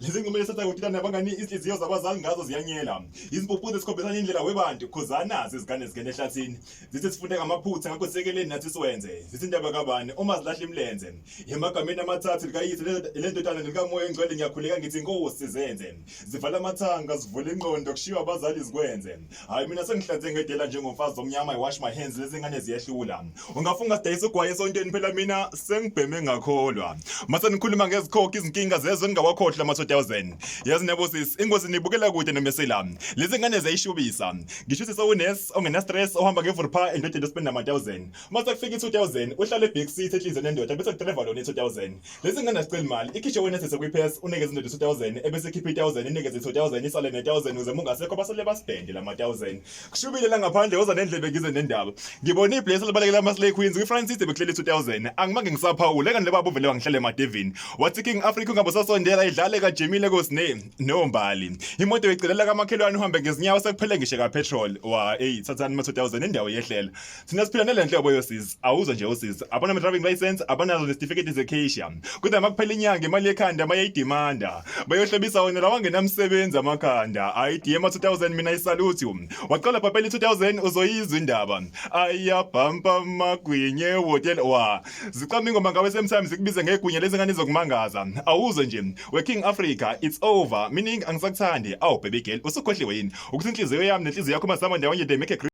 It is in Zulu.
lezi ngoma esatha kuthina nabangani izinhliziyo zabazali ngazo ziyanyela izimpuphu zesikhombisana indlela webantu khuzana zizigane zigene ehlathini zithi sifunde ngamaphutha ngakho sekeleni nathi siwenze zithi indaba kabani uma zilahle imlenze emagameni amathathu likayise lendodana likamoya engcwele ngiyakhuleka ngithi inkosi zenze zivala amathanga zivule ingqondo kushiywa abazali zikwenze hayi mina sengihlanze ngedela njengomfazi omnyama i wash my hands lezi ngane ziyehlula ungafunga sidayisa ugwaye esontweni phela mina sengibheme ngakholwa mase nikhuluma ngezikhokho izinkinga zezwe ningawakhohlwa ama 2000 yazi nebo sis ingozi nibukela kude nomesela lezi ngane ziyayishubisa ngisho ukuthi sewunes ongena stress ohamba ngevurpa endodeni ospenda ama 1000 mase kufika i 2000 uhlale back seat ehlizwe nendoda bese driver lona i 2000 Lesi ngane asiceli imali. Ikhishwe wena sese kwiPass unikeza indoda 2000 ebese ikhipha i1000 inikeze 2000 isale ne1000 ukuze mungasekho basale basibhende lama 1000. Kushubile la ngaphandle woza nendlebe ngize nendaba. Ngibona ibless libalekela ama Slay Queens kwiFrancis beklele 2000. Angimange ngisaphawule kanti laba buvele wangihlele emadevini. Wathi King Africa ungabe sasondela idlale kajimile kosne no mbali. Imoto icelela kamakhelwane uhambe ngezinyawo sekuphele ngishe ka petrol. Wa hey thathani ma 2000 indawo yehlela. thina siphila nale nhlobo yosizi awuzwa nje usizi abona driving license abanazo nesitifiketi zekheisha kodwa makuphela inyanga imali yekhanda mayayidimanda bayohlobisa wena lawangenamsebenzi amakhanda ayidiye ama-2000 mina isaluthi waqala bhabhela i-2000 uzoyizwa indaba ayabhampa magwinye wotel wa zicama ingoma ngawe semtime zikubize ngegwinya lezi ngane zokumangaza awuzwe nje we-king africa it's over meaning angisakuthandi awu baby girl usukhohliwe yini ukuthi inhliziyo yami nenhliziyo yakho mazihamba ndawonye they make a